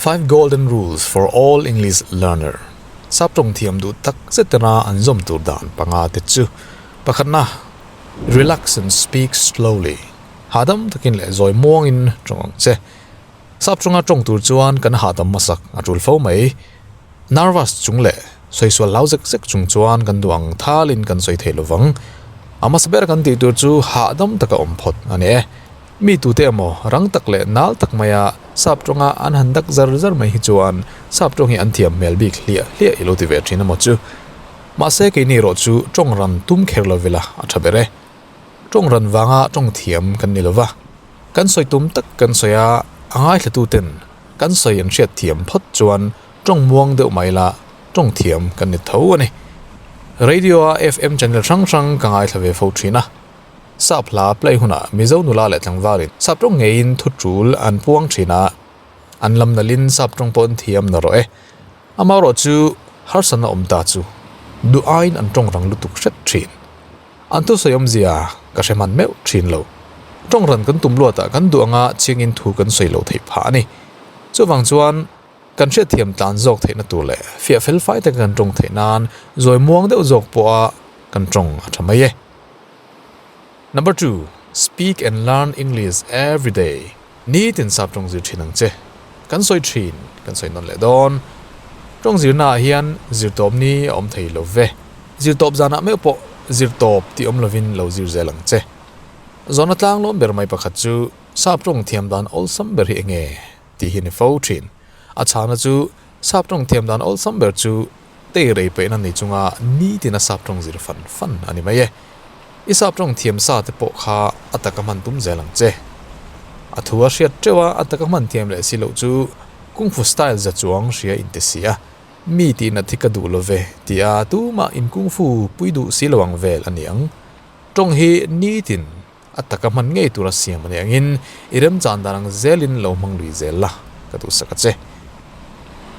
Five golden rules for all English learner sap tawng thiam duh tak zet tena an zawm tur dan panga te chu pakhatna relax and speak slowly hahdam takin leh zawi muangin tawng ang che. Sap chunga tawng tur chuan kan hahdam hmasak a tul fo mai. Nervous chung leh sawi sual hlau zek zek chung chuan kan duh ang thal in kan sawi thei lo vang. A hmasa ber kan tih tur chu hahdam taka awm phawt a ni e. Mi tute emaw rang tak leh nal tak maia sap tawngah an han dak zar zar mai hi chuan sap tawng hi an thiam hmel bik hliah hliah i lo ti ve thin a maw chu. Mahse keini erawh chu tawng ran tum kher lo vela a tha ber e. Tawng ran vanga tawng thiam kan ni lo va. Kan sawi tum tak kan sawi a, a ngaithlatuten kan sawi an hriat thiam phawt chuan ṭawng muang deuh mai la ṭawng thiam kan ni tho a ni. Radio-a FM channel hrang hrang ka ngaithla ve fo ṭhin a. Sap hla play hunah Mizo nula leh tlangvarin sap ṭawng ngeiin thu ṭul an puang ṭhin a, an lam nalhin sap ṭawng pawh an thiam na rawh e. Amaherawhchu harsatna awm ta chu duh aiin an ṭawng rang lutuk hret ṭhin. An thusawi awmzia ka hre hman meuh thin lo. Tawng ran kan tum luatah kan duh anga chiangin thu kan sawi lo theih phah a ni. Chuvang chuan kan hriatthiam tlan zawk theihna tur leh fiah fel fai taka kan tawng theih nan zawi muang deuh zawk pawha kan tawng a tha mai e. Number two, Speak and learn English everyday. Nitin sap tawng zir thin ang che. Kan sawi thin, kan sawi nawn leh dawn. Tawng zirnaah hian zirtawp ni a awm thei lo ve. Zirtawp zanah meuh pawh zirtawp tih awm lovin lo zir zel ang che. Zawhna tlang lawm ber mai pakhat chu sap tawng thiam dan awlsam ber hi enge tih hi ni fo thin. A chhana chu sap tawng thiam dan awlsam ber chu. Tei rei peihna ni chunga nitin a sap tawng zir fan fan a ni mai e. I sap tawng thiam sa te pawh kha a taka hman tum zel ang che. A thu a hriat teuh a, a taka hman thiam leh si loh chu kung fu style za chuang hria in ti si a, mi tihna thi ka duh lo ve ti a, tumah in kung fu pui duh si lo ang vel a niang. Tawng hi nitin a taka hman ngei tura siam a ni angin i remchan dan ang zelin lo hmang lui zel la ka duhsak a che.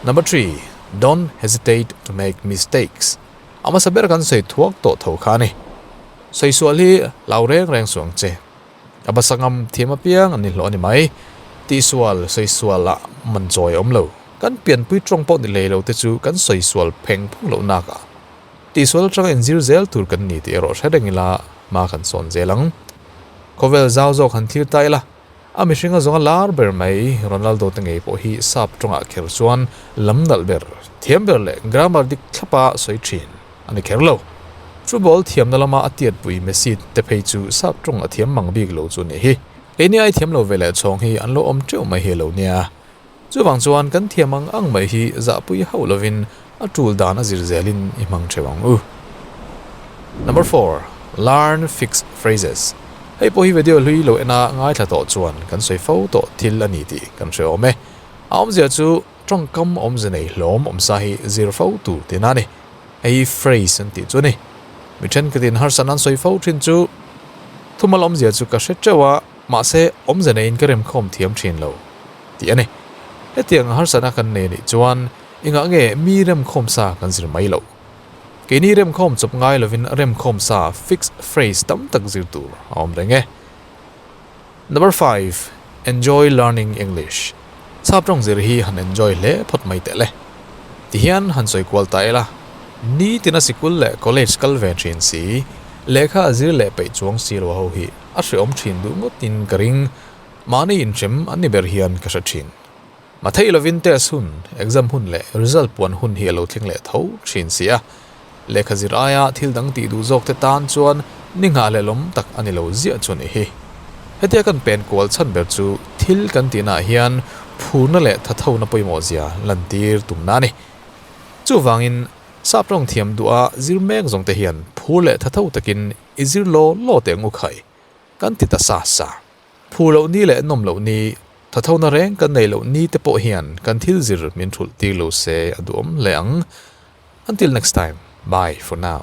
Number three, Don't hesitate to make mistakes. A hmasa ber kan sawi thuak tawh tho kha a ni. Sawi sual hi lau reng reng suh ang che. A basa ngam thiam apiang an ni hlawh a ni mai. Tih sual, sawi sual ah man chawi a awm lo. Kan pianpui tawng pawh ni lei lo te chu kan sawi sual pheng phung loh nak ah. Tihsual atang en zir zel tur kan ni tih erawh hre reng ila hma kan sawn zel ang. Khawvel zau zawk han thlir ta ila, a mihring a zawnga lar ber mai Ronaldo te ngei pawh hi sap tawngah kher chuan lam nalh ber, thiam ber leh grammar dik thlapa sawi thin a ni kher lo. Chu ball thiamna lama a tiatpui Messi te phei chu sap tawng a thiam mang bik lo chu a nih hi. Keini ai thiam lo veleh chhawng hi an lo awm teuh mai hi a lo nia, Chuvang chuan kan thiam ang ang mai hi zahpui hauh lovin a tul dan a zir zelin i hmang theuh ang u. Number four, Learn fixed phrases. Hei pawh hi vedio hlui lo ena ngaithla tawh chuan kan sawi fo tawh thil a ni tih kan hre awm e. A awmzia chu tawngkam awmze nei hlawm awm sa hi zir fo tur tiin a ni. Hei hi phrase an tih chu a ni. Mi thenkhatin harsa nan sawi fo thin chu thumal awmzia chu ka hre teuh a. Mahse, awmze neiin ka remkhawm thiam thin lo, ti a ni. Hetianga harsatna kan nei a nih chuan i ngah nge mi remkhawm sa kan zir mai loh? Keini remkhawm chawp ngai lovin remkhawm sa fixed phrase tam tak zir tur a awm reng e. Number five, Enjoy learning English. Chhap tawng zir hi han enjoy hle phawt mai teh le. Ti hian han sawi kual ta ila. Ni tina sikul leh college kal ve thin si, lehkha a zir leh peih chuang si lo a ho hi. a hreawm thin duh ngawtin ka ring, mahni inhrem an ni ber hian ka hre thin. Matheih lovin test hun, exam hun leh result puan hun hi a lo thleng leh tho thin si a, lehkha zir aia thil dang tih duh zawkte tan chuan ni nghah leh lawm tak a ni lo ziah chu ni hi. Hetia kan pen kual chhan ber chu thil kan tihnah hian phurna leh thathona pawimawhzia lantir tumna a ni. Chuvangin, sap tawng thiam duha zir mek zawngte hian phur leh thatho takin I zir law law teh ngu khai kan ti ta sa sa. Phu loh ni leh nawm loh ni, thathona reng kan nei loh ni te pawh hian kan thil zir min thulh tir lo se a duhawm hle ang. Until next time, bye for now.